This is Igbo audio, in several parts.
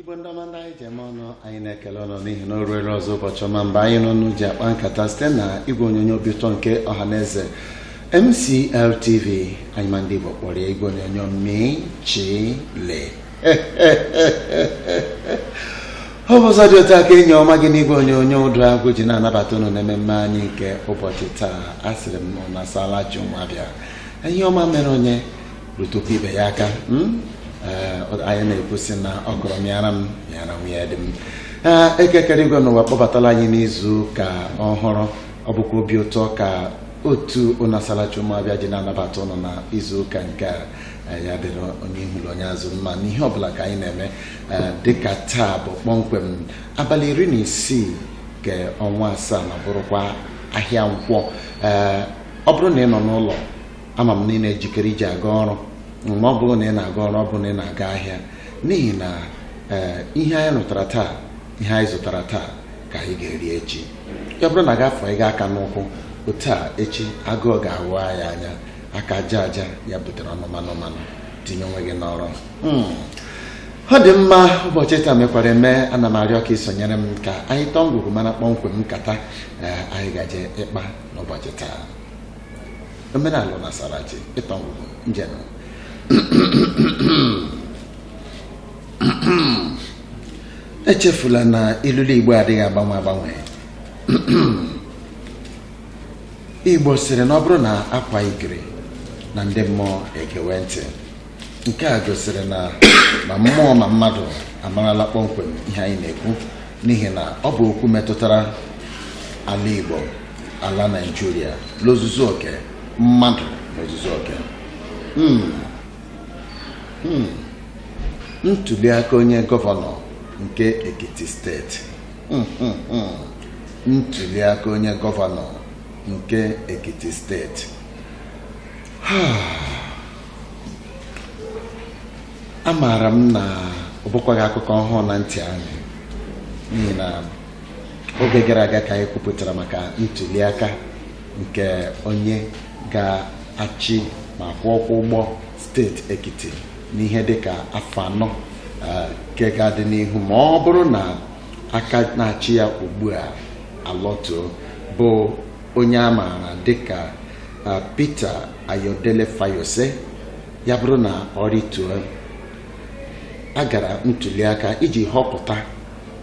igwe ndị ọma ndị anyị ji eme ọnụ anyị na-ekele unu n'ihi na o ruere ọzọ ụbọchị ọma mgbe anyị na unu ji akpa nkata site na igwe onyonyo obi ụtọ nke ọha na eze MCL TV anyị ma ndị Igbo kpọrọ ya igwe onyonyo mị chị lị ọ bụ ụzọ dị otu a ka enyi ọma gị n'igwe onyonyo ụdụ agwụ ji na-anabata unu n'ememme anyị nke ụbọchị taa asịrị m unu asaala chi ụmụ Abịa ihe ọma mere onye rụtụkwa ibe ya aka hmm? eh, anyị na-ekwusị na ọkwụrụ mịara m mịara nwunye di m eh, Eke kere igwe na ụwa akpọbatala anyị n'izu ụka ọhụrụ ọ bụkwa obi ụtọ ka otu unu asaala chi ụmụ Abịa ji na-anabata unu na izu ụka nke a eh, ya dịrị onye ihu na onye azụ mma n'ihe ọbụla ka anyị na-eme dịka taa bụ kpọmkwem abalị iri na isii nke ọnwa asaa na bụrụkwa ahịa nkwọ ọ bụrụ na ị nọ n'ụlọ ama m na ị na-ejikere iji aga ọrụ ma ọ bụrụ na ị na-aga ọrụ ọ bụrụ na ị na-aga ahịa n'ihi na ee ihe anyị rụtara taa ihe anyị zụtara taa ka anyị ga-eri echi ya bụrụ na gị afanye aka n'ụkwụ otu a echi agụụ ga-awa anyị anya aka aja aja ya butere ọnụ mmanụ mmanụ tinye onwe gị n'ọrụ ọ dị mma ụbọchị taa mekwara eme ana m arịọ ka ị sonyere m ka anyị tọọ ngwugwu mara kpọmkwem nkata ee anyị gaje ịkpa n'ụbọchị taa omenala unu asaala chi ịtọ ngwugwu njem echefula na ilulu igbo adịghị agbanwe agbanwe igbo sịrị na ọ bụrụ na a kwaa ikiri na ndị mmụọ egewe ntị nke a gosiri na ma mmụọ ma mmadụ amarala kpọmkwem ihe anyị na-ekwu n'ihi na ọ bụ okwu metụtara ala igbo ala naijiria n'ozuzu oke mmadụ n'ozuzu oke Hmm. Hmm. ntuliaka onye gọvanọ nke ekiti steeti Hmm, hmm, hmm. ntuliaka onye gọvanọ nke ekiti steeti amaara m na ọ bụkwaghị akụkọ ọhụụ na ntị anyị n'ihi na oge gara aga ka anyị kwupụtara maka ntuliaka nke onye ga-achị ma kwọọ ọkwọ ụgbọ steeti Ekiti n'ihe dịka afọ anọ eh, nke ga-adị n'ihu ma ọ bụrụ na aka na-achị ya ugbu a alọtuo bụ onye a maara dịka eh, Peter Ayodele Fayose ya bụrụ na ọ rịtuo a gara ntuliaka iji họpụta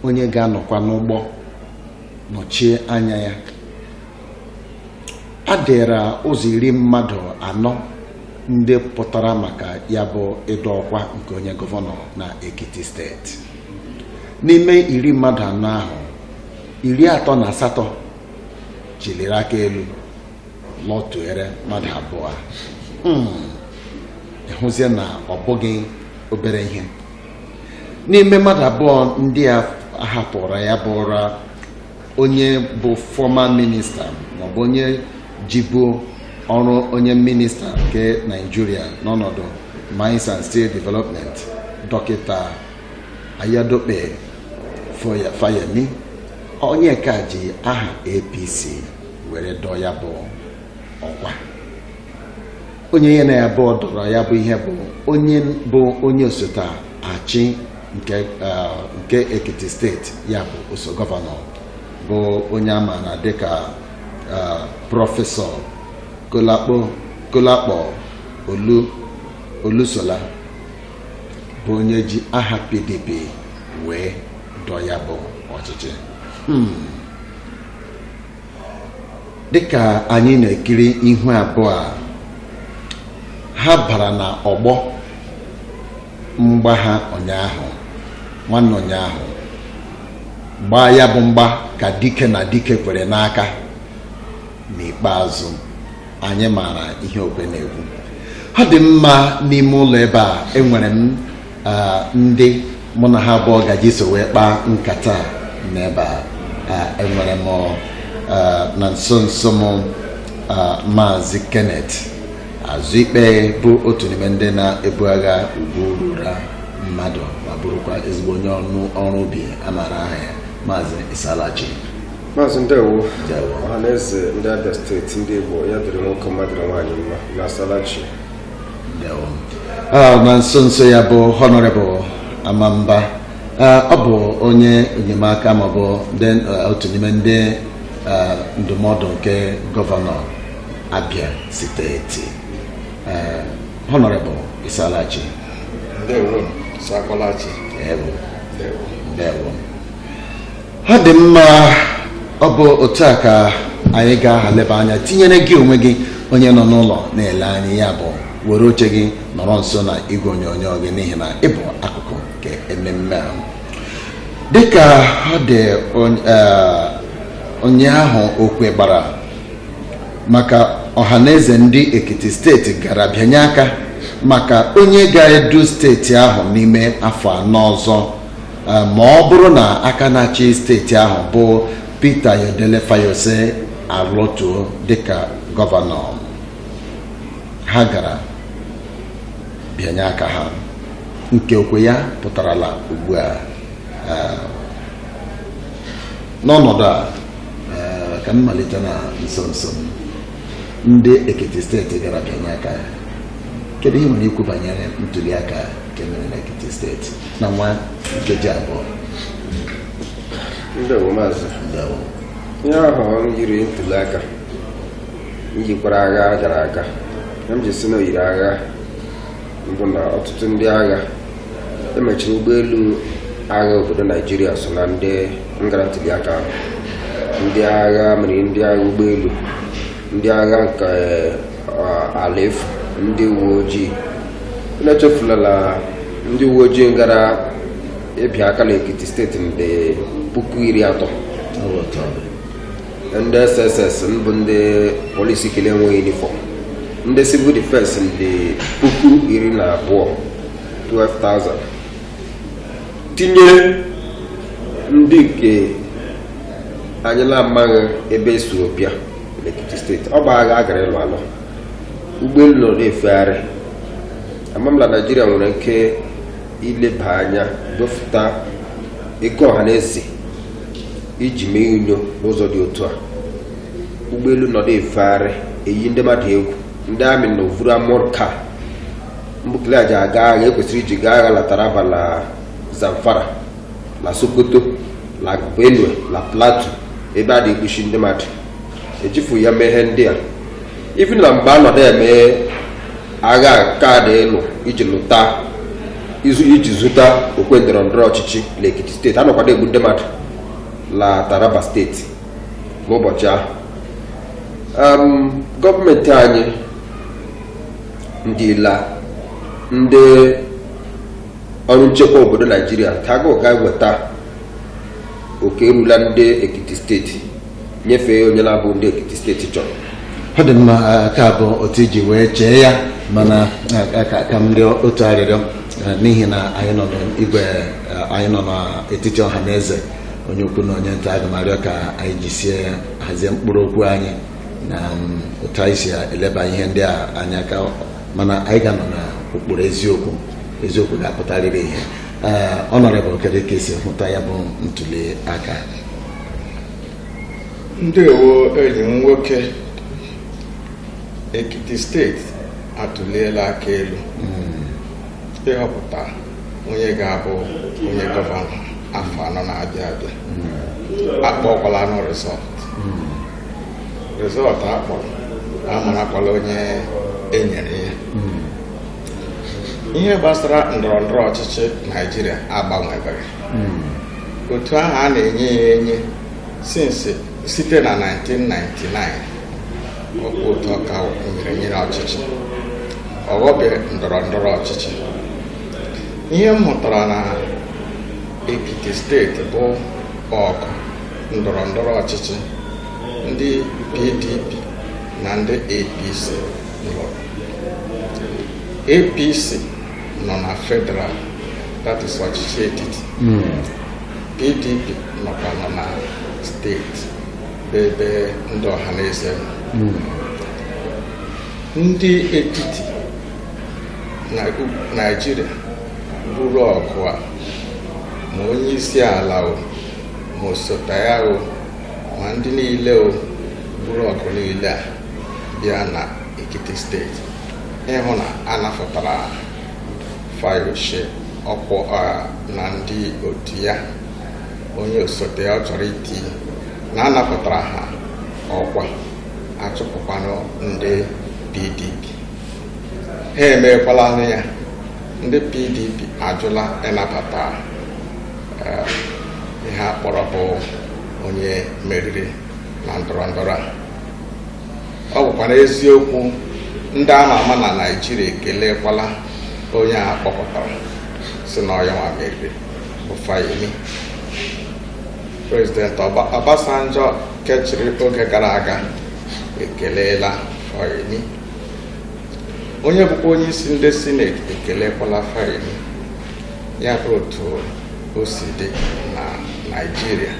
onye ga-anọkwa n'ụgbọ nọchie anya ya ha dịrị ụzọ iri mmadụ anọ ndị pụtara maka ya bụ ịdọ ọkwa nke onye gọvanọ na Ekiti steeti n'ime iri mmadụ anọ ahụ iri atọ na asatọ chiliri aka elu lọtụere mmadụ abụọ hmm. ị hụzie na ọ bụghị obere ihe n'ime mmadụ abụọ ndị a hapụrụ ya bụrụ onye bụ fọma minista maọbụ onye jibu ọrụ onye minista nke naijiria n'ọnọdụ mines and steel development dọkịta ayadope fayemi onye nke ji aha apc were dọọ ya bụ ọkwa onye ya na ya abụọ dọrọ ya bụ ihe bụ onye bụ onye osote achị nke nke Ekiti steeti ya bụ oso gọvanọ bụ onye a maara dịka prọfesọ Kolapo Kolapo Olu Olusola bụ onye ji aha PDP wee dọ ya bụ ọchịchị hmm. dịka anyị na-ekiri ihu abụọ a ha bara na ọgbọ mgba ha ụnyaahụ nwanne ụnyaahụ gbaa ya bụ mgba ka dike na dike kwere n'aka n'ikpeazụ anyị maara ihe okwe na-ekwu ọ dị mma n'ime ụlọ ebe a enwere m ndị mụ na ha abụọ ga-eji so wee kpaa nkata n'ebe a enwere m na nso nso m maazị Kenneth Azụikpe bụ otu n'ime ndị na-ebu agha ugwu ruru mmadụ ma bụrụkwa ezigbo onye ọrụ ubi a maara aha ya maazị ị saala chi maazị ndewo ọha na eze ndị abịa steeti ndị igbo ya dịrị nwoke mma dịrị nwaanyị mma ụnụ asaala chi ah, na nso nso ya bụ honorable amamba ah, ọ bụ onye enyemaka maọbụ ah, otu n'ime ndị ndụmọdụ nke gọvanọ abịa steeti honorable ị saala chi ndewo ndewo ọ dị mma ọ bụ otu a ka anyị ga-aha leba anya tinyere gị onwe gị onye nọ n'ụlọ na-ele anyị ya bụ were oche gị nọrọ nso na igwe onyonyo gị n'ihi na ị bụ akụkụ nke ememme a dịka ọ dị ụnyaahụ okwe gbara maka ọhaneze ndị ekiti steeti gara bịanye aka maka onye ga-edu steeti ahụ n'ime afọ anọ ọzọ Eh, ma ọ bụrụ na aka na-achị steeti ahụ bụ Peter Ayodele Fayose alọtuo dịka gọvanọ ha gara bịanye aka ha nke okwe ya pụtarala ugbu a eh, n'ọnọdụ a eh, ka m malite na nso nso m ndị Ekiti steeti gara bịanye aka ya kedu ihe i nwere ikwu banyere ntuli aka nke mere na Ekiti steeti na nwa nkeji abụọ ndewo maazị ndewo ihe ahụ yiri ntuli aka yikwara agha a gara aga ihe m ji sị na o yiri agha bụ na ọtụtụ ndị agha emechiri ụgbọelu agha obodo naijiria so na ndị ngara ntụliaka ahụ ndị agha mmiri ndị agha ụgbọelu ndị agha nke eh, ala efu ndị uwe ojii na-echefulala ndị uwe ojii ngara ịbịa aka n'ekiti steeti ndị puku iri atọ ndị SSS bụ ndị polisi nke na-enweghị yunifọm ndị civil defense ndị puku iri na abụọ 12,000 tinye ndị nke anyị na-amaghị ebe e si bịa n'Ekiti steeti ọ bụ agha a gara ịlụ alụ ụgbọelu nọ na-efegharị ama m na naijiria nwere ike ileba anya dọfụta ego ọha na eze iji mee unyo n'ụzọ dị otu a ụgbọelu nọdụ efegharị eyi ndị mmadụ egwu ndị amị nọ vuru armoured car bụ nke e ji aga agha e kwesịrị iji gaa agha na taraba na zamfara na sokoto na benue na plateau ebe a na-egbusi ndị mmadụ ejifu ya mee ihe ndị a ifi na mgbe anọdụ eme agha nke a dị ịlụ iji lụta izu iji zuta okwe ndọrọ ndọrọ ọchịchị na ekiti steeti anọkwadụ egbu ndị mmadụ na taraba steeti n'ụbọchị ahụ Em, gọọmenti anyị ndịla ndị ọrụ nchekwa obodo naijiria ka aga ụga weta oke erula ndị ekiti steeti nyefee onye na-abụ ndị Ekiti steeti chọrọ ọ dị m ka ọ bụ otu i ji wee chee ya mana ka m rịọ otu arịrịọ n'ihi na anyị nọ n'igwe anyị nọ n'etiti ọha na eze onye ukwu na onye nta aga m arịọ ka anyị jisie ike hazie mkpụrụ okwu anyị na um, otu anyị si eleba ihe ndị a anya ka mana anyị ga-anọ na ụkpụrụ eziokwu eziokwu ga-apụtarịrị ihe Honourable kedu ka i si hụta ya bụ ntuli aka ndewo enyi m nwoke ekiti steeti atụliela aka elu ịhọpụta onye ga-abụ onye gọvanọ afọ anọ na-abịa abịa akpọkwalanụ result result a kpọrọ amarakwala onye e nyere ya ihe gbasara ndọrọ ndọrọ ọchịchị naijiria agbanwebere hmm. otu ahụ a na-enye ya enye since site na 1999 ọkwa otu ọ ka nyere nyere ọchịchị ọghọbeghị ndọrọ ndọrọ ọchịchị ihe m hụtara na ekiti steeti bụ ọgụ ndọrọ ndọrọ ọchịchị ndị pdp na ndị apc APC nọ na federal that is ọchịchị etiti PDP hmm. nọkwanụ na steeti bụ ebe ndị ọha na eze hmm. ndị etiti na Naịjirịa buru ọgụ a ma onye isi ala o ma osote ya o ma ndị niile o buru ọgụ niile a bịa na Ekiti steeti ịhụ na a napụtara Fayose ọkwa na ndị otu ya onye osote ya ọ chọrọ iti na anapụtara ha ọkwa achụpụkwanụ ndị PDP ha emeekwala ya ndị PDP ajụla ịnabata eh, ihe a kpọrọ bụ onye meriri na ndọrọ ndọrọ a ọ bụkwara eziokwu ndị ama ama na naijiria ekelekwala onye a kpọpụtara sị na ọ ya nwa meriri bụ Fayemi prezident Obasanjo ke chịrị oge gara aga ekeleela Fayemi onye bụkwa onye isi ndị sineti ekelekwala Fayemi ya bụ otu o si dị na naijiria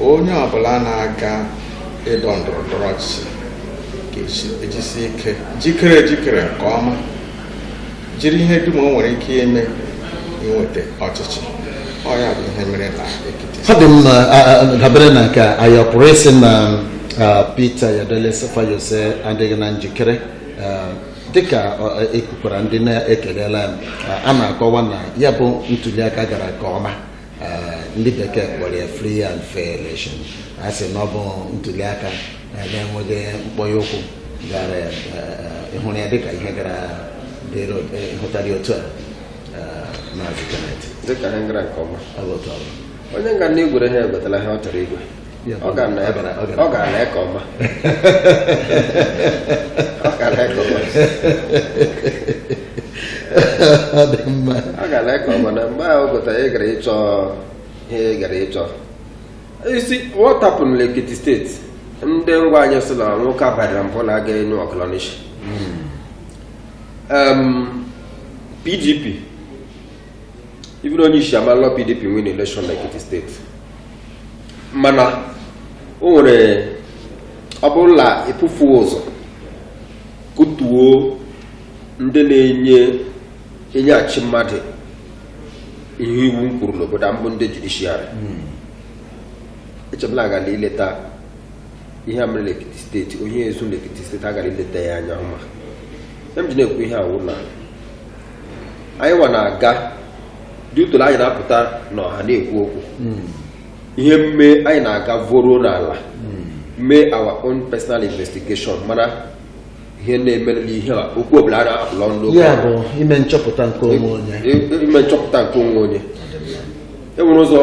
onye ọbụla na-aga ịdọ ndọrọ ndọrọ ọchịchị ga-ejisi ike jikere ejikere nke ọma jiri ihe dum o nwere ike ime inweta ọchịchị ọ ya bụ ihe mere na Ekiti ọ dị mma dabere na nke anyị ọ pụrụ ịsị na Peter Ayodele Fayose adịghị na njikere dịka ekwukwara ndị na-ekelela a na-akọwa na ya bụ ntuliaka gara nke ọma eh, ndị bekee kpọrọ ya free and fair election a sị na ọ bụ ntuli aka eh, na-enweghị mkpọnye ụkwụ gara eh, ị hụrụ ya dịka ihe gara hụtara otu a maazị Kenneth dịka ihe gara nke ọma onye nga na igwere ha egwetara ihe ọ chọrọ igwe ọ ga na ebe ọ gara nke ọma ọ gara nke ọma ọ dị mma ọ gara nke ọma na mgbe ahụ gụta ị gara ịchọ ihe ị gara ịchọ isi what happened na Ekiti steeti ndị ngwa anyị sị na nwoke abadara mbụ na-aga enu ọkụlọnishi PDP even onye isi ma la PDP win election na Ekiti steeti mana o nwere ọ bụrụ na e bughị ụzọ kụtuo ndị na-enye enyeghachi mmadụ ihe iwu nkwuru n'obodo a mbụ ndị judishiarị eche m la a gara ileta ihe a mere n'Ekiti steeti ohi e zuru n'Ekiti steeti a gara ileta ya anya ọma ihe m ji na-ekwu ihe a wụ na anyị nwa na-aga tutu la anyị na-apụta n'ọha na-ekwu okwu ihe mme anyị na-aga voruo n'ala mee our own personal investigation mara ihe na-eme n'ihe a okwu ọbụla a na-apụlọ ndị ụka ya bụ ime nchọpụta nke onwe onye I- i- ime nchọpụta nke onwe onye e nwere ụzọ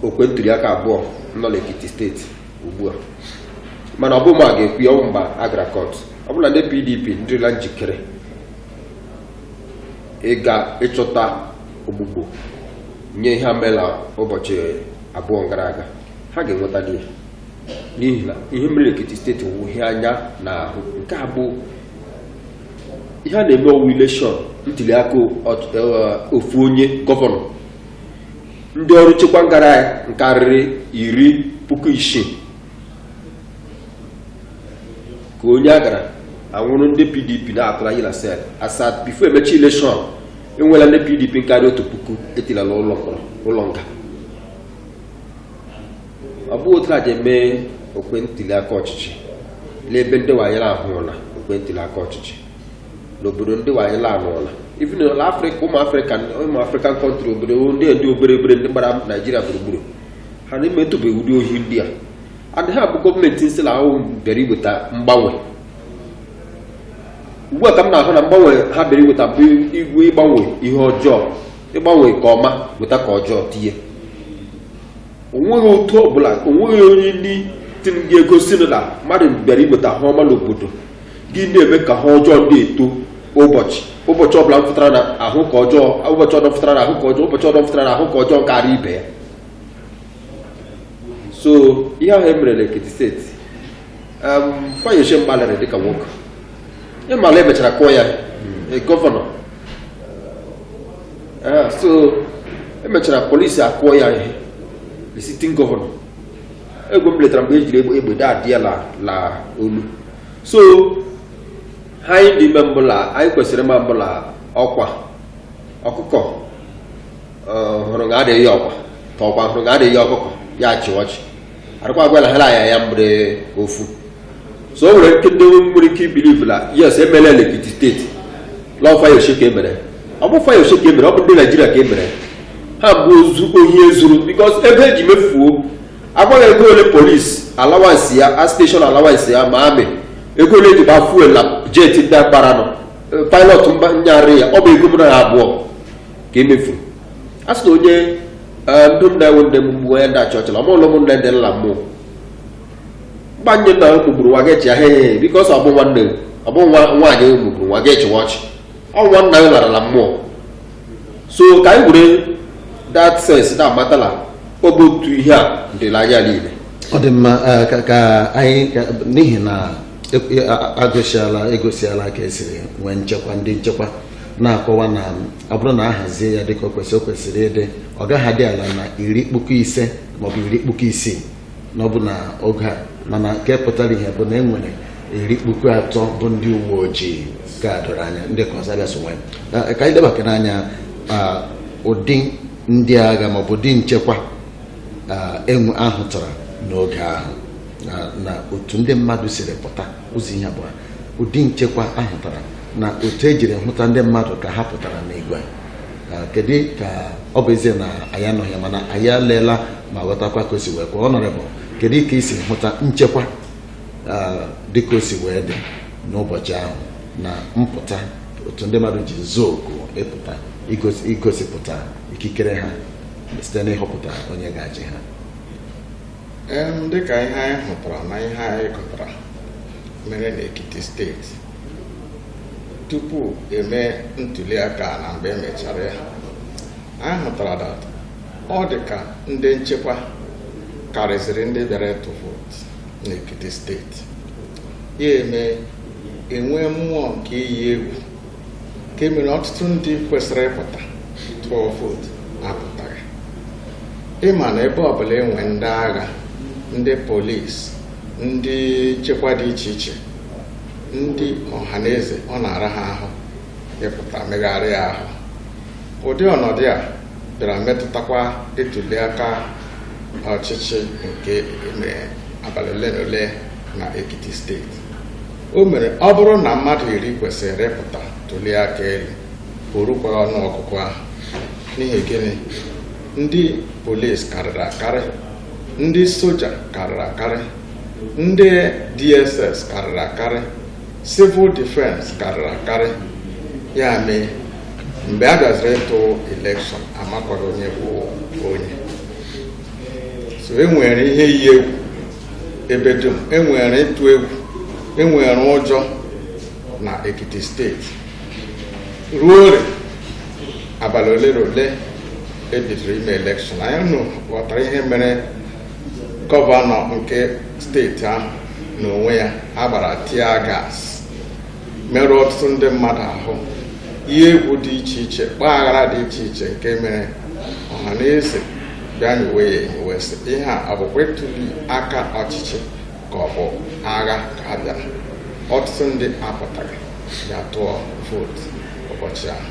okwe ntuli aka abụọ nọ n'Ekiti steeti ugbu a mana ọ bụ ma a ga-ekwu ya ọ bụ mgbe a gara kọt ọ bụrụ la ndị PDP ndịrịla njikere ịga ịchọta ogbugbo nye ihe mela ụbọchị abụọ gara aga ha ga-enweta ya n'ihi na ihe mere Ekiti steeti wụ ihe anya na-ahụ nke a bụ ihe a na-eme ọ wụ ileshọn ntuli aka eh, ofu onye gọvanọ ndị ọrụ nchekwa ngara ya nkarịrị iri puku isii ka onye a gara a nwụrụ ndị pdp na-atụrụ anyị na sel as at bifo emechi ileshọn enwela ndị pdp karịa otu puku e tiela la ụlọ mkpọrọ ụlọ nga ọ bụghị otu a ji eme okwe ntuli aka ọchịchị n'ebe ndị wanyere ahụla okwe ntuli aka ọchịchị n'obodo ndị wanyere anụla even na afrịka ụmụ afrịka ụmụ afrịkan kọntrị obodo ndị ndị obere obere ndị gbara naijiria gburugburu ha na-emetụbeghị ụdị ohi ndị a adịghị abụ gọọmenti nsila ahụ bịara iweta mgbanwe ugbu a ka m na-ahụ na mgbanwe ha bịara iweta bụ igwe ịgbanwe ihe ọjọọ ịgbanwe nke ọma weta nke ọjọọ tinye onweghị otu ọbụla onweghị onye ndị tiri gị egosi na mmadụ bịara iweta ihe ọma n'obodo gị na-eme ka ihe ọjọọ ndị eto ụbọchị ụbọchị ọbụla m fụtara na ahụ ka ọjọọ ụbọchị ọdọ fụtara na ahụ ka ọjọọ ụbọchị ọdọ fụtara na ahụ ka ọjọọ karịa ibe ya so ihe ahụ emere na Ekiti steeti um, Fayose gbalịrị dịka nwoke ị ma la emechara kụọ ya hmm. gọvanọ ah, so emechara polisi akụọ ya ihe the sitting gọvanọ egwu m letara mgbe ejiri egbe daadị ya la olu so ihe anyị ndị eme bụ la anyị kwesịrị ịma bụ la ọkwa ọkụkọ hụrụ ga adịghị ya ọkwa ka ọkwa hụrụ ga adịghị ya ọkụkọ ya achị ọchị adịkwa agwala ha ya ya mgbere ofu so o nwere ike ndị nwere ike ibilivu na yes emela Ekiti steeti lọọ Fayose ka emere ọ bụghị Fayose ka emere ọ bụ ndị Naijiria ka emere ha bụ ozu ohi ezuru bikos ebe eji mefuo agbaghị ego ole polisi alawansi ya a steshọn alawansi ya amaghị m ego ole eji gba fuel na jet ndị akparanụ pilot mba nyarị ya ọ bụ ego mụ na gị abụọ ka emefu a sị na onye eh, ndụ nna ewu nne m mgbu onye ndị achị ọchịla ọma ụlọ m nne dị nla mmụọ mgbanye nna m gbugburu nwa gị chịa he he biko ọsọ ọbụ nwanne m ọbụ nwa nwaanyị m gbugburu nwa gị chịwa ọchị ọ nwa nna m larala mmụọ so ka anyị were that sense na amata la ọ bụ otu ihe a dị la anyị niile ọ dị mma eh, ka- ka anyị ka- n'ihi na e- e- a- agụsiala egosiala ka esiri nwee nchekwa ndị nchekwa na-akọwa na ọ bụrụ na a hazie ya dịka o kwesịrị o kwesịrị ịdị ọ gaghị adị ala na iri puku ise maọbụ iri puku isii na ọ bụ na oge a mana nke pụtara ihe bụ na e nwere iri puku atọ bụ ndị uwe ojii ka doro anya ndị ka ọzọ abịa so nwee Na- ka anyị lebakene anya ah, ụdị ndị agha maọbụ ụdị nchekwa ah, enwe ahụtara n'oge ahụ na- na otu ndị mmadụ siri pụta ozi ya bụ ụdị nchekwa ahụtara na otu ejiri hụta ndị mmadụ ka ha pụtara n'igwe kedu ka ọ bụ ezie na anyị anọghị mana anyị aleela ma ghọtakwa ka o si wee kwa ọnọrịbụ kedu ka i si hụta nchekwa dị ka o si wee dị n'ụbọchị ahụ na mpụta otu ndị mmadụ ji zaa oku ịpụta igosipụta ikikere ha site n'ịhọpụta onye ga-achị ha dịka ihe anyị hụtara na ihe anyị gụtara mere n'Ekiti steeti tupu eme ntuliaka na mgbe emechara ya anyị hụtara that ọ dị ka ndị nchekwa karịziri ndị bịara ịtụ vootu n'Ekiti steeti ya eme enwee mmụọ nke iyi egwu nke mere ọtụtụ ndị kwesịrị ịpụta tụọ vootu apụtaghị ị ma na ebe ọbụla enwe ndị agha ndị polisi ndị nchekwa dị iche iche ndị ọha na eze ọ na-ara ha ahụ ịpụta megharịa ahụ ụdị ọnọdụ a bịara metụtakwa ịtụli aka ọchịchị nke abalị ole na ole na Ekiti steeti O mere ọ bụrụ na mmadụ iri kwesịrị ịpụta tụlie aka elu o rukwaghị ọnụ ọgụgụ ahụ n'ihi gịnị ndị polis karịrị akarị ndị soja karịrị akarị ndị dss karịrị akarị civil defense karịrị akarị ya mee mgbe a bịaziri ịtụ election amakwaghị onye bụ onye so e nwere ihe iyi egwu ebe dum enwere ịtụ egwu enwere ụjọ na ekiti steeti ruo ole abalị ole na ole ebidoro ime election anyị nụ ghọtara ihe mere gọvanọ nke steeti ahụ n'onwe ya agbara tear gas merụọ ọtụtụ ndị mmadụ ahụ ihe egwu dị iche iche kpaa aghara dị iche iche nke mere ọha na eze bịa nyowe ya enyo wee sị ihe a ọ bụkwa ịtụli aka ọchịchị ka ọ bụ agha ka a bịara ọtụtụ ndị apụtaghị ya tụọ vootu ụbọchị ahụ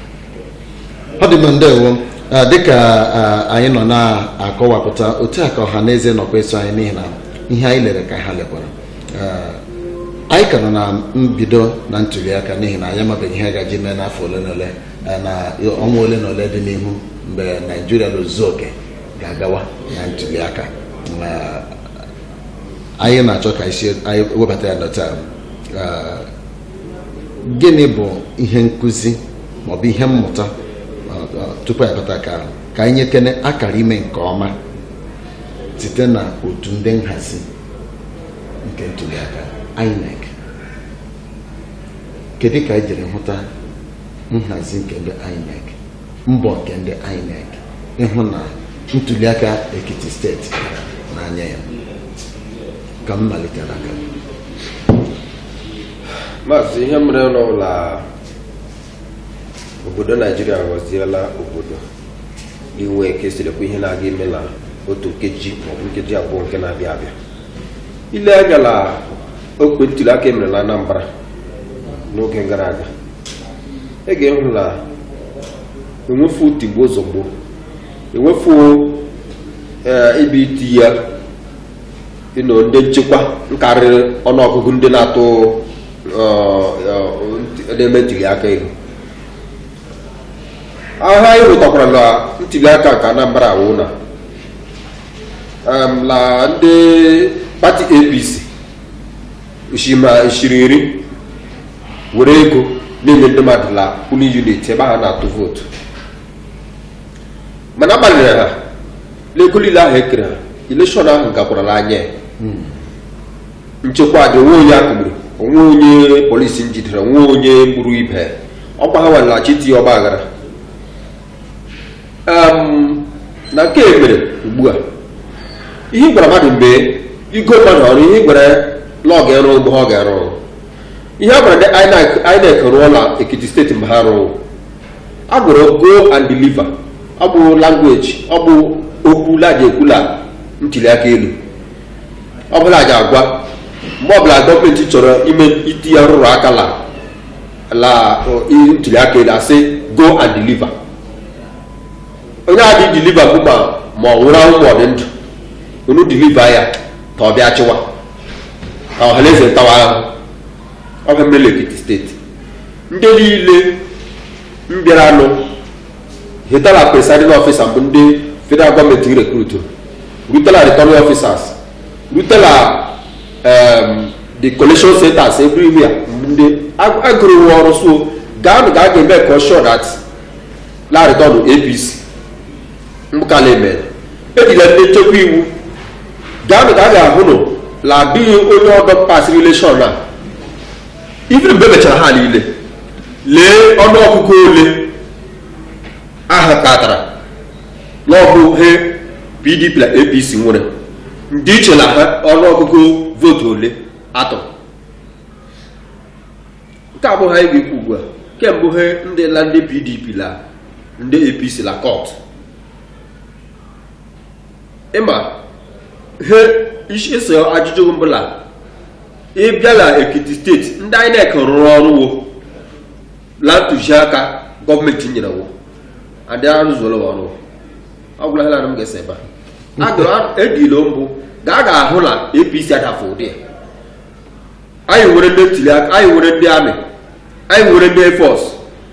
ọ dị mma ndewo Ah, dịka ah, anyị nọ na-akọwapụta otu a ka ọha na eze nọkwa eso anyị n'ihi na ihe anyị lere ka ha lekwara anyị ka nọ na mbido na ntuliaka n'ihi na anyị amabeghị ihe gaje ime n'afọ ole na ole na ọnwa ole na ole dị n'ihu mgbe naijiria n'ozuzu oke ga-agawa na ntuliaka anyị na-achọ ka isi anyị webata ya na taa gịnị bụ ihe nkụzi maọbụ ihe mmụta tupu anyị bata nke ahụ ka anyị nyekene akara ime nke ọma site na otu ndị nhazi nke ntuliaka INEC kedu ka anyị jiri hụta nhazi nke ndị INEC mbọ nke ndị INEC ịhụ na ntuliaka Ekiti steeti n'anya ya ka m malite n'aka maazị ihe mere n'ụlọ obodo naijiria ghọziela obodo inwe ike asị lekwa ihe na-aga ime na otu nkeji maọbụ nkeji abụọ nke na-abịa abịa ile anya na okwe ntuli aka emere na anambra n'oge gara aga ị ga-ehụ na enwefu tigbuo zọgbuo enwefu ee ibe iti ya ịnọ ndị nchekwa nkarịrị ọnụọgụgụ ndị na-atụ ọ, ọ, nt- na-eme ntuli aka ihe ahụ anyị hụtakwara na ntuli aka nke anambra awụ na em, na ndị pati apc shima shiri iri were ego na-enye ndị mmadụ la polling unit ebe ha na-atụ vootu mana agbalịrị ha n'ego niile ahụ ekere ha election ahụ gakwara n'anya ya nchekwa dị onwe onye akụgburu onwe onye polisi njidere onwe onye gburu ibe ọkwa ha walaghachi tinye ọgba aghara Em, na nke e mere ugbu a ihe ị gwara mmadụ mgbe igo mmadụ ọrụ ihe ị gwara ya na ọ ga-arụ bụ ihe ọ ga-arụ ọrụ ihe a gwara ndị INEC rụọ na Ekiti steeti bụ ihe ha rụrụ a gụrụ go and deliver ọ bụ language ọ bụ okwu la-eji ekwu la ntuli aka elu ọ bụ la-eji agwa mgbe ọbụla gọọmenti chọrọ ime itiye arụrụ aka la la ntuli aka elu asị go and deliver onye a dị deliver bụ ma ma ọ nwụrụ anwụ ma ọ dị ndụ unu deliver ya ka ọ bịa chịwa ka ọhaneze ntawa ahụ ọ ga mmere la ekiti steeti ndị niile mbịaranụ hite la presiding officer bụ ndị federal gọọmenti recruit rutela returning officers rutela um, the collation centers everywhere ndị agụrụ nwe ọrụ sị wo gaanụ gaa ga make sure that la return apc nka na emere ejila ndị nchekwa iwu gaanụ ka a ga-ahụ nụ na adịghị onye ọdọ passịrị election a ife mgbe mechara ha niile lee ọnụọgụgụ ole aha katara n'ọbụ he pdp na apc nwere ndịiche na ha ọnụọgụgụ vootu ole atọ nke a bụghị anyị ga-ekwu ugbu a kama bụ ihe ndị la ndị pdp la ndị apc la court ịma ihe isi ese ajụjụ bụ la ịbịa la ekiti steeti ndị inec rụrụ ọrụ wo la ntụziaka gọọmenti nyere wo adị arụzuola wa ọrụ ọ gwụla ha na m ga-ese ebe a adụrụ edilo mbụ ga a ga-ahụ na apc adafụ ụdị ya anyị nwere ndị ntuli aka anyị nwere ndị army anyị nwere ndị air force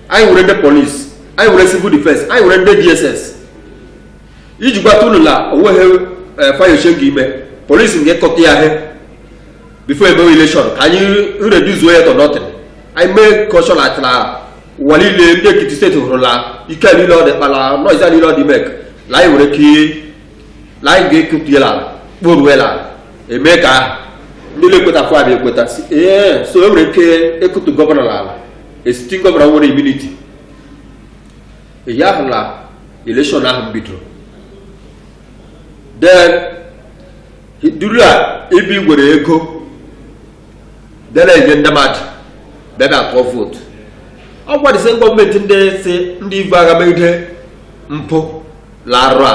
anyị nwere ndị polisi anyị nwere civil defense anyị nwere ndị dss iji gwata unu na onweghị ihe fayose ga-eme polisi nke kọta ya ihe before emewe election ka anyị reduce-uo ya to nothing anyị mee kọshọn atịla ụwa niile ndị ekiti steeti hụrụla ike niile ọ dị kpala noise niile ọ dị make na anyị nwere ike na anyị ga-ekepụela ala kporuela ala eme ka ahụ ndị na-ekwetapụ abịa ekweta sị ee so e nwere ike ịkụtu gọvanọ n'ala a sitting gọvanọ nwere immunity ihe ahụ na election ahụ bidoro then duru a ibi gwere ego bịa na-enye ndị mmadụ bịa bịa tụọ vootu ọ gwadịsị gọọmenti ndị sị ndị ivu agha megide mpụ larụ a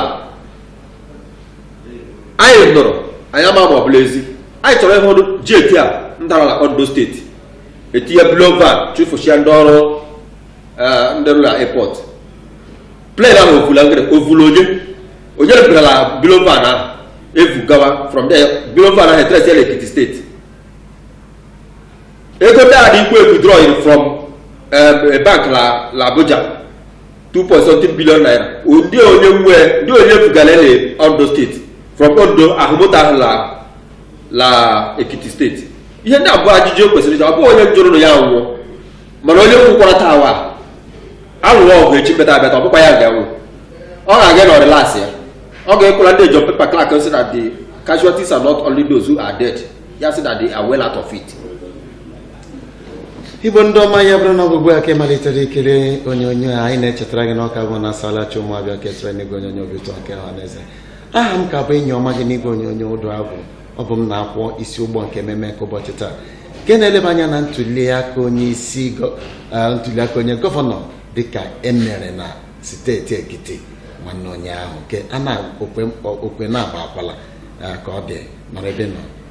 anyị nụrụ anyị ama ma ọ bụ la ezi anyị chọrọ ịhụ ọ dị jet a ndara na ondo steeti e tinye bullion van chụfụchaa ndị ọrụ eh, ndị rụrụ na airport plane ahụ ovula ngere ovula onye onye rụpụtara bullion van ahụ evu gawa from there bullion van ahụ e trace ya na ekiti steeti ego ndị a dị ikwu withdrawn from eh, bank la la abuja 2.7 billion naira ndị onye nwe ndị onye bugara na ondo steeti from ondo ahụmụta ahụ la la ekiti steeti ihe ndị abụọ ajụjụ o kwesịrị ịjụ ọ bụghị onye jụrụ na ya nwụọ mana onye kwukwara taa wa alụrụ ọgụ echi meta abịata ọ bụkwa ya ga-anwụ ọ ga-aga na ọrịlasị ya ọ ga-ekwela ndị john pepper clark sị na the casualties are not only those who are dead ya sị na they are well out of it igbo ndị ọma ya bụrụ na ọ bụ ugbu a ka ị malitere ikiri onyonyo a anyị na-echetara gị na ọ ka bụ na asalachi ụmụabịa ka esere n'igwe onyonyo obi ụtọ nke ọha na eze aha m ka bụ enyi ọma gị n'igwe onyonyo udu agwu ọ bụ m na-akwọ isi ụgbọ nke ememe nke ụbọchị taa nke na-eleba anya na ntuliaka onye isi gọ- eh, ntuliaka onye gọvanọ dịka emere na steeti ekiti nwanne ụnyaahụ nke a na-okwe mkpọ- okwe na-agba akwala eh, ka ọ dị nọrọ ebe nọ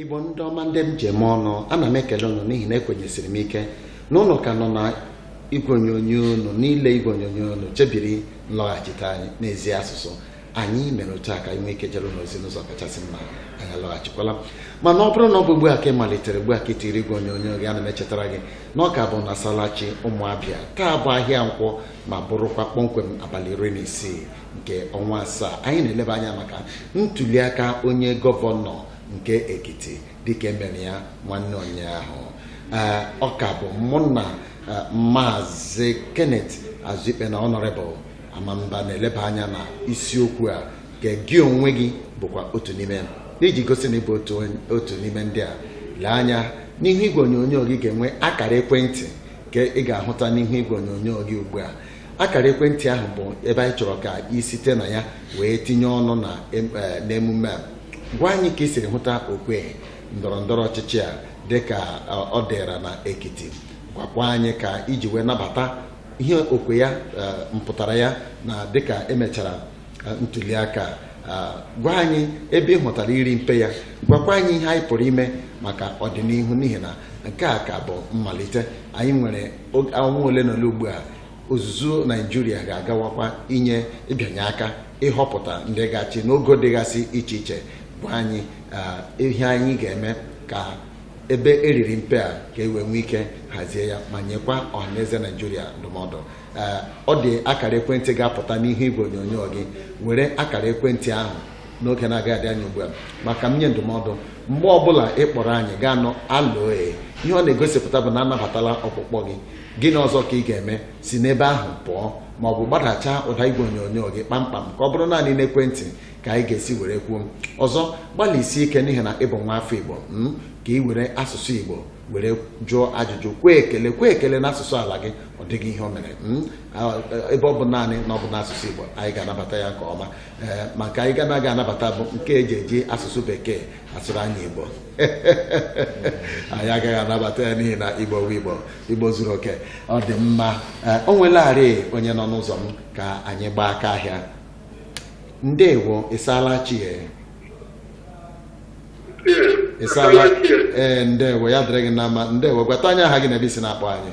igbo ndị ọma ndị m ji eme ọnụ ana m ekele ụnụ n'ihi na ekwenyesiri m ike na ụnụ ka nọ na igwe onyonyo ụnụ niile igwe onyonyo ụnụ chebiri nlọghachite anyị n'ezi asụsụ anyị mere otu a ka anyị nwee ike jere ụnụ ozi n'ụzọ kachasị mma anyị alọghachikwala mana ọ bụrụ na ọ bụ ugbu a ka ị malitere ugbu a ka ị tiri igwe onyonyo gị ana m echetara gị na ọ ka bụ na salachi ụmụabịa taa bụ ahịa nkwọ ma bụrụkwa kpọmkwem abalị iri na isii nke ọnwa asaa anyị na-eleba anya maka ntuliaka onye gọvanọ nke Ekiti dịka emere ya nwanne ụnyaahụ ọ ka bụ mụ na maazị Kenneth Azuikpe na Honorable Amamba na-eleba anya na isiokwu a ka gị onwe gị bụkwa otu n'ime iji gosi na ịbụ otu n'ime ndị a lee anya n'ihu igwe onyonyo gị ga-enwe akara ekwentị nke ị ga-ahụta n'ihu igwe onyonyo gị ugbu a akara ekwentị ahụ bụ ebe anyị chọrọ ka ị site na ya wee tinye ọnụ na em- eh, n'emume a gwa anyị ka ị siri hụta okwe ndọrọ ndọrọ ọchịchị a dịka eh, ọ dịra na ekiti gwakwa anyị ka iji wee nabata ihe okwe ya eh, mpụtara ya na dịka emechara eh, ntuli aka a, gwa anyị ebe ị hụtara iri mpe ya gwakwa anyị ihe anyị pụrụ ime maka ọdịnihu n'ihi na nke a ka bụ mmalite anyị nwere ọnwa ole na ole ugbu a ozuzu naijiria ga-agawakwa inye ịbịanye aka ịhọpụta ndị ga-achị n'ogo dịgasị iche iche gwa anyị ihe anyị ga-eme ka ebe eriri mpe a ka e wee nwee ike hazie ya ma nyekwa ọhaneze naijiria ndụmọdụ ọ dị akara ekwentị ga-apụta n'ihu igwe onyonyo gị were akara ekwentị ahụ n'oge na-agaghị adị anya ugbu a ma ka m nye ndụmọdụ mgbe ọbụla ị kpọrọ anyị gị anụ hello ihe ọ na-egosipụta bụ na anabatala ọkpụkpọ gị gịnị ọzọ ka ị ga-eme si n'ebe ahụ pụọ ma ọ bụ gbadacha ụda igwe onyonyo gị kpamkpam ka ọ bụrụ naanị n'ekwentị ka anyị ga-esi were kwuo ọzọ gbalịsie ike n'ihi na ịbụ nwa afọ igbo hmm, ka ị were asụsụ igbo were jụọ ajụjụ kwee ekele kwee ekele n'asụsụ ala gị ọ dịghị ihe o mere hmm, ebe ọ bụ naanị na ọ bụ n'asụsụ igbo anyị ga-anabata ya nke ọma ee nke anyị ga-anaghị anabata bụ nke eji eji asụsụ bekee asụrụ anyị igbo anyị agaghị anabata ya n'ihi na igbo bụ igbo igbo zuru oke ọ dị mma ee o nwelarị onye nọ n'ụzọ m ka anyị gbaa aka ahịa ndewo ịsaala chi ya ịsaala ee ndewo ya dịrị gị na mma ndewo gwata anyị aha gị na ebe isi na-akpọ anyị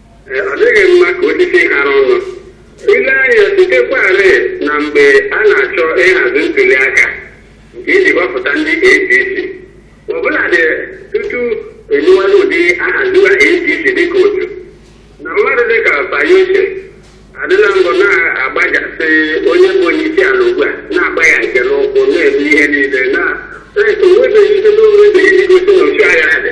ọ dịghị mma ka osisi ghara ọnụ ile anya sitekwarị na mgbe a na-achọ ịhazi ntuli aka nke iji gbapụta ndị apc ọbụladị tupu enyiwala ụdị ahaziwa apc dịka otu na mmadụ dịka fayose adịla mbụ na-agbajasị onye bụ onye isi ala ugbu a na-agba ya nke n'ụkwụ na-ebu ihe niile na onwebeghị ihe n'onwebeghị ndị gosi na otu agha dị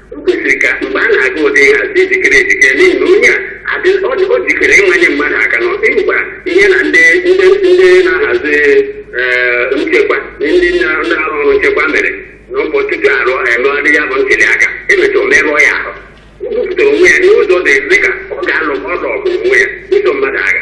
o kwesịrị ka mgbe a na-aga ụdị nhazi ị jikere ejikere n'ihi na onye a adị ọ dị- ọ jikere ịmanye mmadụ aka na ọsị ngwa ihe na ndị ndị ndị na-ahazi ee, nchekwa ndị na- na-arụ ọrụ nchekwa mere na ụbọchị tupu arụ emegharị ya bụ ntuli aka emecha o merụọ ya ahụ o bupụtara onwe ya n'ụzọ dị dị ka ọ ga-alụ ọlụ ọgụ onwe ya buso mmadụ agha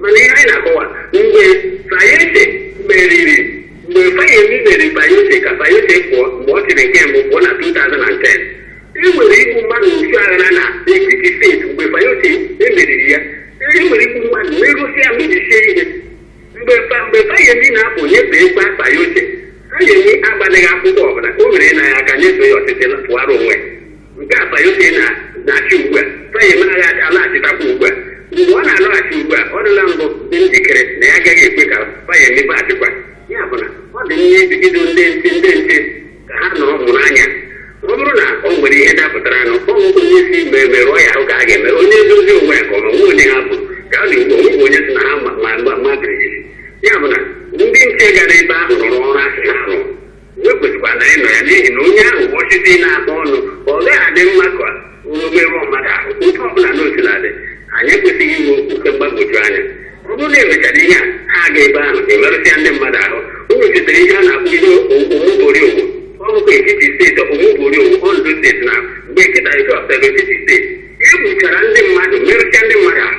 mana ihe anyị na-akọwa mgbe Fayose meriri mgbe Fayemi meriri Fayose ka Fayose pụọ mgbe ọ chịrị nke mbụ pụọ na 2010 e nwere igbu mmadụ otu aghara na Ekiti steeti mgbe Fayose e meriri ya e nwere igbu mmadụ merụsịa mebisie ihe mgbe Fa- mgbe Fayemi na-apụ nyefee gba Fayose Fayemi agbalịghị akwụkwọ ọbụla o were na ya aka nyefee ya ọchịchị na pụara onwe ya nke a Fayose na na-achị ugbu a Fayemi ga-alaghachitakwa ugbu a mgbe ọ na-alọghachi ugbu a ọ dịla mbụ dị njikere na ya agaghị ekwe ka Fayemi baghachikwa ya bụ na ọ dị nne ibido ndị nche ndị nche ka ha nọrọ mụrụ anya ọ bụrụ na o nwere ihe dapụtara nụ ọ bụ onye si mgbe merụọ ya ahụ ka a ga-eme onye edozi onwe ya ka ọ ma nwe onye ha bụ ka a na-egbu onwe onye sị na ha ma ma ma ma birigidi ya bụ na ndị nche gara ebe ahụ rụrụ ọrụ a sị ha rụrụ e kwesịkwara ịnọ ya n'ihi na onye ahụ bụ osisi na-akpọ ọnụ ọ gaghị adị mma ka o merụọ mmadụ ahụ otu ọ bụla n'otu na-adị anyị ekwesịghị inwe oke mgbagwoju anya ọ bụrụ na e mechara ihe a ha aga ebe ahụ emerụsịa ndị mmadụ ahụ unu chetara ihe a na-akpọ ihe Omoboriowo ọ bụkwa Ekiti steeti Omoboriowo Ondo steeti na mgbe nkịta nke ọsọrọ Ekiti steeti e gbuchara ndị mmadụ merụsịa ndị mmadụ ahụ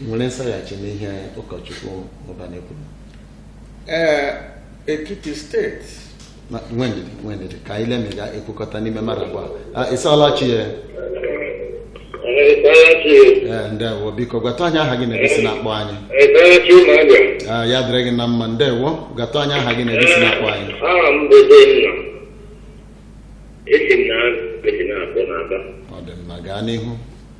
nwere nsaghachi n'ihe ụkọchukwu Ụbanị kwuru ee Ekiti steeti Na- nwee ndidi nwee ndidi ka anyị lee ma ị ga-ekwukọta n'ime mmadụ abụọ a ị saghachi ya ee ndewo biko gwatụ anyị aha gị na ebe i si na-akpọ anyị Eberechi ụmụagwa Ah, ya dịrị gị na mma ndewo gwatụ anyị aha gị na ebe i si na-akpọ anyị aha m bụ Denna esi m na esi na-akpọ n'Aba ọ dị mma gaa n'ihu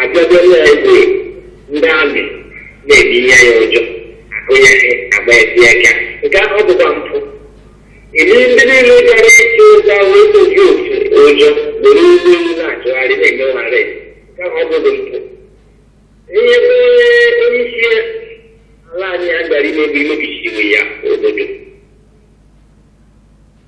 Ajọjọrọ egwu ndị amị na-ebi ihe ya ụjọ akụnyeghị agba ezi aka nke ahụ ọ bụkwa mpụ iri ndị niile gara ịchụ ụzọ wee oji otu ụjọ were ụgbọ elu na-achụgharị na-eme ụgharị nke ahụ ọ bụghị mpụ ihe bụ onye isi ala anyị a gara imebi mebisiri ya obodo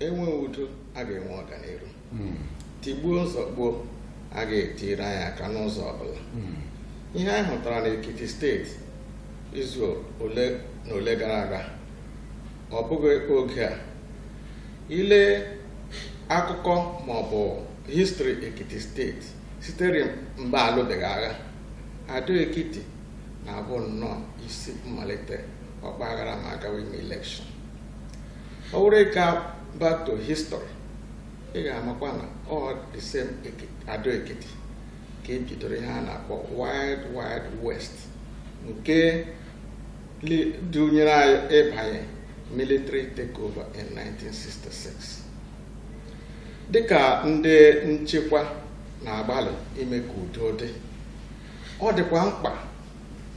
e nwee udo a ga-enwe ọganiru hmm. tigbuo zọgbuo a ga-etiri anyị aka n'ụzọ ọbụla hmm. ihe anyị hụtara n'Ekiti steeti izu ole na ole gara aga ọ bụghị oge a i lee akụkọ ma ọ bụ histri Ekiti steeti sitere mgbe alụbeghị agha Ado Ekiti na-abụ nnọọ isi mmalite ọgbaghara ma a gawa ime elekshọn ọ wụrụ ị gaa back to history ị ga-amakwa na ọ the same Ado Ekiti ka e bidoro ihe a na-akpọ Wild Wild West nke dunyere anyị ịbanye military takeover in 1966 dịka ndị nchekwa na-agbalị ime ka udo dị ọ dịkwa mkpa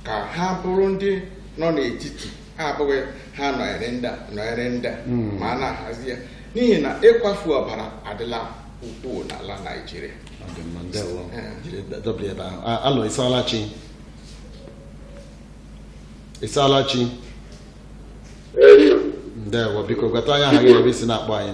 ka ha bụrụ ndị nọ n'etiti ha abụghị ha nọnyere ndị nọnyere ndị hmm. ma a na-ahazi ya n'ihi na ịkwafu ọbara adịla ukwuu n'ala Naịjirịa halo ị saala chi ị saala chi ndewo biko gwatụ anyị aha gị na ebe i si na-akpọ anyị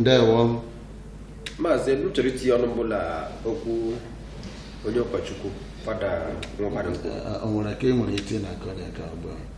ndewo maazị m chọrọ itinye ọnụ mbụ na okwu onye ụkọchukwu fada nwa mmadụ o nwere ka ị nwere iti na akọrịa ka ugbu a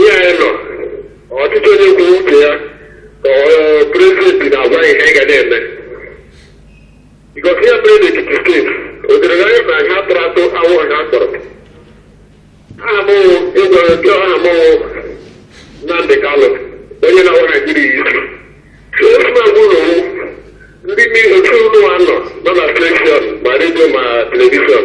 ihe anyị nọ ọchịchị onye kwuru uche ya ka prezident na-agwa ihe anyị ga na-eme because ihe mere n'Ekiti steeti o dere na anyị na ha tụrụ atụ awụ ha tọrọ aha m ịgwa nke aha m Nnamdị Kalụ onye na-awa Naijiria isi so otu na-agwa ụlọ ndị mmiri otu ụlọ nọ nọ na televishọn ma redio ma televishọn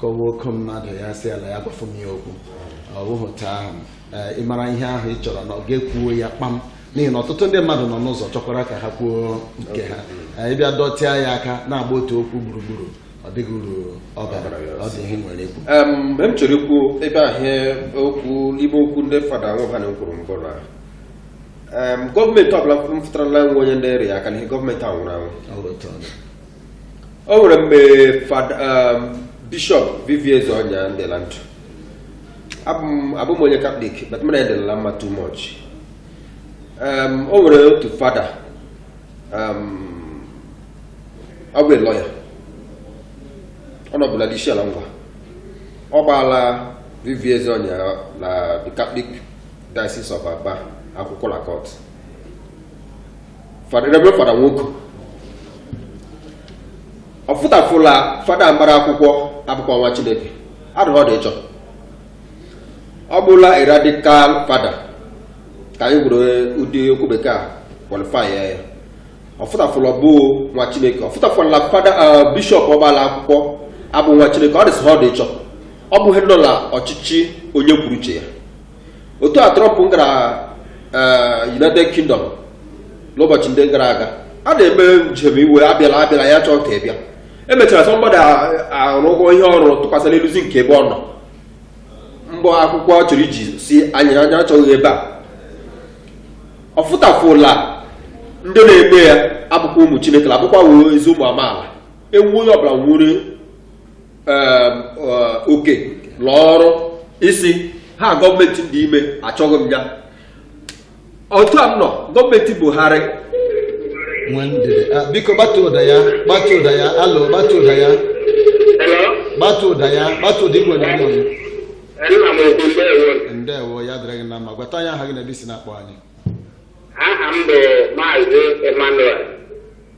kọwa oke mmadụ ya si ala ya gbafu m ya okwu ọ bụghị taa ahụ eh, ị mara ihe ahụ ị chọrọ na ị ga-ekwuo ya kpam n'ihi na ọtụtụ ndị mmadụ nọ n'ụzọ chọkwara ka ha kwuo nke ha Eh, ị bịa dọtịa ya aka na-agba otu okwu gburugburu ọ dịghị uru ọ bara ọ dị ihe i nwere ikwu Em, mgbe m chọrọ ikwu ebe ahụ ihe okwu ime okwu ndị fada nwa ha na-ekwuru mbụ na em, gọọmenti ọbụla fụtara la enwe onye na-arụ ya aka n'ihu gọọmenti a nwụrụ anwụ Ọ bụ otu ọ dị. o nwere mgbe fada um, bishọp V.V. Ezeonyia dị la ndụ abụ m- abụ m onye katọlik but mụ na ya dịla mma too much um, o nwere otu fada um, ọ bụ lọya ọ nọbu la dị Isiala Ngwa ọ gbaala V.V. Ezeonyia la the catholic diocese of aba akwụkwọ la court Reverend Fada Nwoke ọ fụtafụ la fada mara akwụkwọ abụkwa nwa Chineke adụghị ọ dị ịchọ ọ bụ la a radical fada ka anyị were ụdị okwu bekee a qualify ya ọ fụtafụ la abụ nwa Chineke ọ fụtafụ la fada bishọp ọ gbaala akwụkwọ abụ nwa Chineke ọ dịsị ha ọ dị ịchọ ọ bụ ihe anyị nọ la ọchịchị onye kwuru uche ya otu a Trump gara eh, United Kingdom n'ụbọchị ndị gara aga a na-eme njem iwe abịala abịala ya chọọ ka ị bịa emechara somebody arụgo ihe ọ rụ tụkwasị n'elu zinc ebe ọ nọ mgbọ akwụkwọ ọ chọrọ iji sị anyị anya achọghị ya ebe a ọ fụtafụ la ndị na-eme ya abụkwa ụmụ chineke abụkwa wee ezi ụmụ amaala ewu onye ọbụla nwere ehm, eh, oke lụọ ọrụ isi ha gọọmenti dị ime achọghị m ya otu a m nọ gọọmenti buhari ah, biko gbatu ụda ya gbatu ụda ya hello gbatu ụda ya gbatu ụda ya gbatu ụda igwe onyonyo ndewo ya dịrị gị na mma gwatụ anyị aha gị na ebe i si na-akpọ anyị aha m bụ maazị emmanuel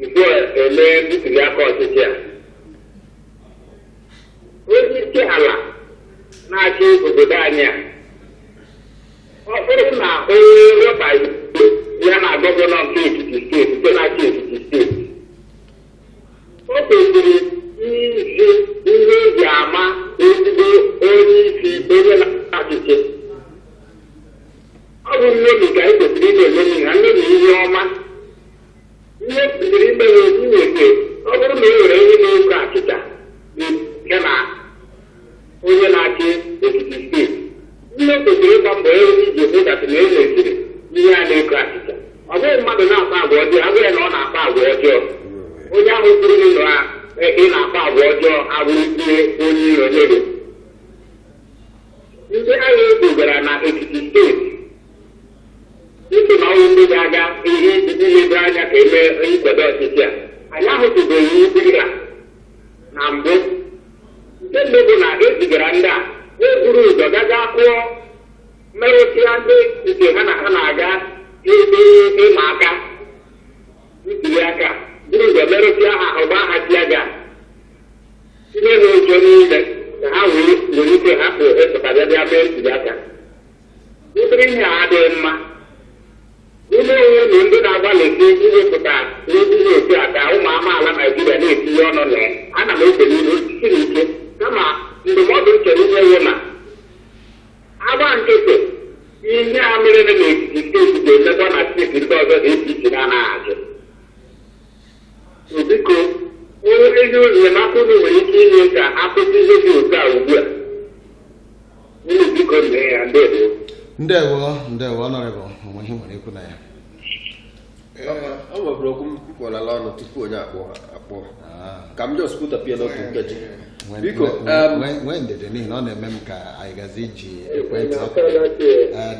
nke e mee ntuli aka ọchịchị a onye isi ala na-achị obodo anyị a ọ bụrụ na onye rọba ya na gọvanọ nke Ekiti steeti nke na-achị Ekiti steeti o kwesịrị izi ihe e ji ama ezigbo onye isi onye na-achị achị ọ bụ nnomi ka e kwesịrị ịna-eṅomi ha nnomi ihe ọma ihe e kwesịrị ime ya okwu nwete ọ bụrụ na e nwere ihe na-eko achịcha nke na onye na-achị Ekiti steeti ihe e kwesịrị ịgba mbọ ya ozi ji ekwedata na e nweziri ihe a na-eko achịcha ọ bụghị mmadụ na-akpa agwa ọjọọ a gwa ya na ọ na-akpa agwa ọjọọ onye ahụ kwuru na ị na-akpa agwa ọjọọ abụrụ ihe onye iro nyere ndị agha e bugara na Ekiti steeti Dịka na ọ wụ ndị ga-aga ihe iji ledo anya ka e mee nkwado ọchịchị a anyị ahụtụbeghị ụdị ya na mbụ nke mbụ bụ na e zigara ndị a na-eburu ụzọ gaga kụọ merụsịa ndị nke ha na ha na-aga ebe ịma aka ntuli aka buru ụzọ merụsịa ha ọ gbaa ha tear gas tinye ha ụjọ niile ka ha wee nwee ike hapụ ịpụta bịa bịa mee ntuli aka Ụdịrị ihe a adịghị mma. Unu onwe unu ndị na-agbalị ike iwepụta n'ozi ihe otu a ka ụmụ amaala Naijiria na-etinye ọnụ na ya. Ana m ekele unu siri ike kama ndụmọdụ m chọrọ inye wụ na a gba nkịtị ihe a mere na Ekiti steeti ga-emekwa na steeti ndị ọzọ dị iche iche na Naijiria. Biko, onye ezi enyemaka unu nwere ike inye ka a kwụsị ihe dị otu a ugbu a. ndewo ndewo ọnọrịbụ o nwe ihe i nwere ikwu na ya ọ nwebụrụ okwu m kwụọlala ọnụ tupu onye akpọ akpọ ka m jos pụtapịa n'otu nkeji biko nwee ndidi n'ihi na ọ na-eme m ka anyị gazi iji ekwentị oku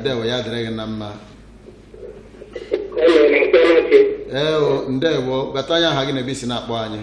ndewo ya dịrị gị na mma ewo ndewo gwata anyị aha gị na ebe i si na-akpọ anyị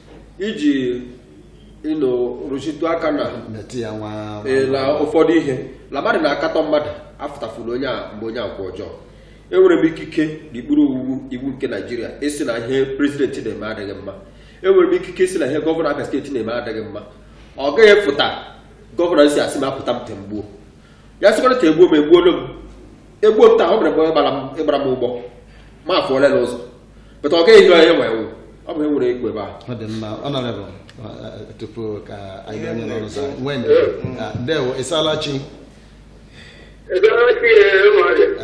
iji ịnụ rụchitụ aka na metụ ya nwa ee, na ụfọdụ ihe na mmadụ na-akatọ mmadụ afụtafuru onye a mgbe onye agwa ọjọọ enwere m ikike n'okpuru iwu iwu nke naijiria ịsị na ihe prezidenti na-eme adịghị mma enwere m ikike ịsị na ihe gọvanọ abia steeti na-eme adịghị mma ọ gaghị efụta gọvanọ sị a sị m apụta m temgbuo ya sịkwara ka e gbuo m egbuolu m e gbuo m taa ọ bụrụ mgbe gbara m ịgbara m ụgbọ ma afọ ole na ụzọ bụta ọ gaghị ehi onye nwere ewu ọ bụ e nwere egwu ebe ahụ ọ dị mma ọnọrịbụ tupu ka anyị bịa onye n'ọrụ zaa nwee ndụ Ah, ndewo ị saala chi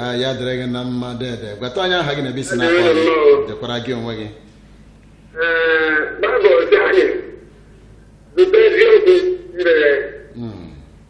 Ah, ya dịrị gị na mma dede gwata anyị aha gị na ebe i si na-akpọ anyị dekwara gị onwe gị Bible sị anyị zụta eziokwu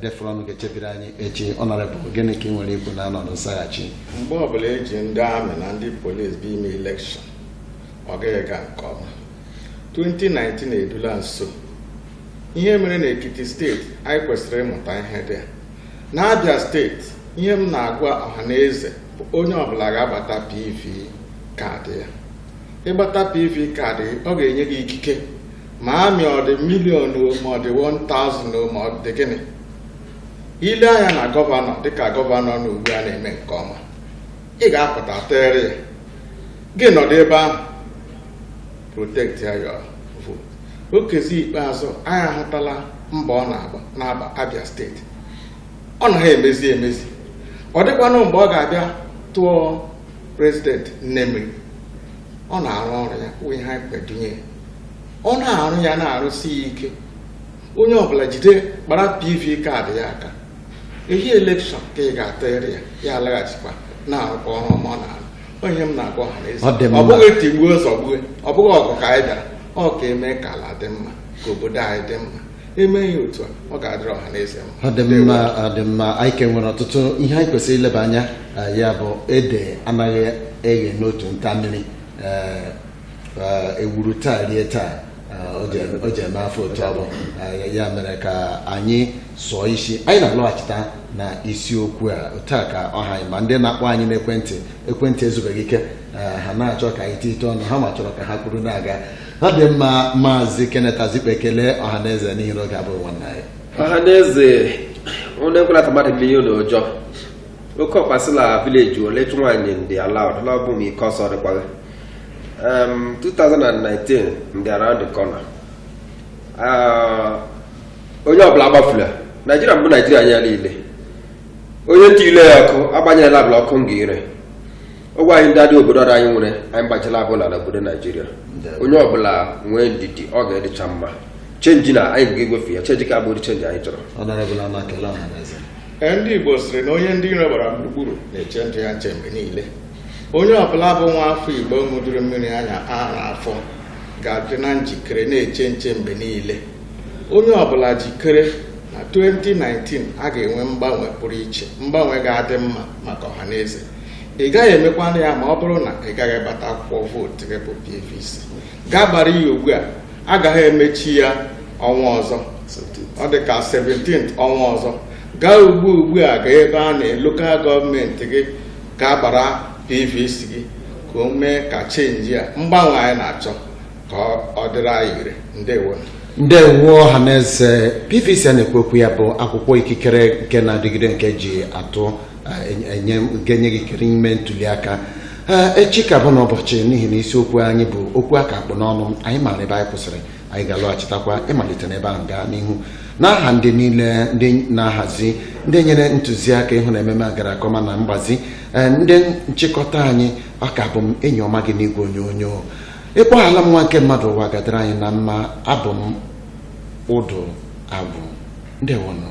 therefore ọnụ ga-echebiri anyị echi ọnọrịbụ gịnị ka i nwere ikwu n'ọnọdụ nsaghachi mgbe ọbụla e ji ndị amị na ndị polisi bụ ime elekshọn ọ gaghị ga nke ọma 2019 erula nso ihe mere na ekiti steeti anyị kwesịrị ịmụta ihe dị na abịa steeti ihe m na-agwa ọha na eze bụ onye ọbụla gaa gbata pv kaadị ya ị gbata pv kaadị ọ ga-enye gị ikike ma amị ọ dị milion ma ọ dị 1000 ma ọ dị gịnị i lee anya na gọvanọ dịka gọvanọ nọ ugbu a na-eme nke ọma ị ga-apụta tụọrọ ya gị nọdụ ebe ahụ protect ya your vote okezie ikpeazụ anyị ahụtala mbọ ọ na-agba n'aba abịa steeti ọ naghị emezi emezi ọ dịkwanụ mgbe ọ ga-abịa tụọ prezidenti nnemri ọ na-arụ ọrụ ya wụ ihe anyị kwedunye ya ọ na-arụ ya na-arụsi ya ike onye ọbụla jide kpara pv kaadị ya aka ehi elekshọn ka ị ga-atụgharị ya ya alaghachikwa na-arụkwa ọrụ ọma ọ na-arụ ọ ihe m na-agwa ọha na eze Ọ dị mma. ọ bụghị tigbuo zọgbuo ọ bụghị ọgụ ka anyị bịara ọ ka e mee ka ala dị mma ka obodo anyị dị mma e mee ya otu a ọ ga-adịrị ọha na eze mma ọ dị mma ọ dị mma anyị ka nwere ọtụtụ ihe anyị kwesịrị ileba anya eh, ya bụ ede anaghị eghe n'otu nta mmiri eh, egburu taa rie taa o ji eme afọ otu abụ ya mere ka anyị sụọ isi anyị na-alọghachita na isiokwu a taa ka ọha anyị ma ndị na-akpọ anyị n'ekwentị ekwentị ezubeghị ike ha na-achọ ka anyị tite ọnụ ha ma chọrọ ka ha kwuru na-aga ha dị mma maazị Kenneth Azikpe kelee ọha na eze n'ihi na oge abụghị nwanne anyị ọha na eze onye nkwela ka mmadụ gị ihe ụlọ ọjọọ oke ọkpa sị la vileji ole chụ nwaanyị ndị ala ọdụla ọ bụ m ike ọsọ dịkwaghị um, 2019 dị around the corner Ah, onye ọbụla agbafula naijiria bụ naijiria anyị niile onye ntị ile ya ọkụ agbanyela abụla ọkụ nga ire ụgwọ anyị ndị adị obodo ọzọ anyị nwere anyị gbachila abụla na obodo naijiria Ndalụ. onye ọbụla nwee ndidi ọ ga-adịcha mma chenji na anyị ga-egwefe ya chenji ka ọ bụrụ chenji anyị chọrọ Honourable Ama kelee ọha na eze Ee, ndị Igbo sịrị na onye ndị iro gbara gburugburu na-eche ndụ ya nche mgbe niile onye ọbụla bụ nwa afọ Igbo ṅụjuru mmiri anya ara afọ ga-adị na njikere na-eche nche mgbe niile onye ọbụla jikere na 2019 a ga-enwe mgbanwe pụrụ iche mgbanwe ga-adị mma maka ọha na eze ị gaghị emekwanụ ya ma ọ bụrụ na ị gaghị gbata akwụkwọ vootu gị bụ PVC gaa gbara ya ugbu a aga ha emechi ya ọnwa ọzọ ọ dị ka 17 ọnwa ọzọ gaa ugbu ugbu a gaa ebe a na lokal gọọmenti gị gaa gbara pvc gị ka o mee ka chenji a mgbanwe anyị na-achọ ka ọ dịrị anyị ire ndewo ndewo ọha na eze pvc a na-ekwu okwu ya bụ akwụkwọ ikikere nke na-adịgide nke e ji atụ eh, enye nke nye gị ikikere ime ntuli aka Eh, echi ka bụ n'ụbọchị n'ihi na isiokwu anyị bụ okwu a ka kpụ n'ọnụ anyị maara ebe anyị kwụsịrị anyị ga-alọghachitakwa ịmalite n'ebe ahụ gaa n'ihu n'aha ndị niile ndị na-ahazi ndị nyere ntụziaka ịhụ na ememe a gara nke ọma na mgbazi eh, ndị nchịkọta anyị ọ ka bụ m enyi ọma gị n'igwe onyonyo ịkpọ ala m nwa nke mmadụ ụwa ga-adara anyị na mma abụ m ụdụ agwụ ndewonụ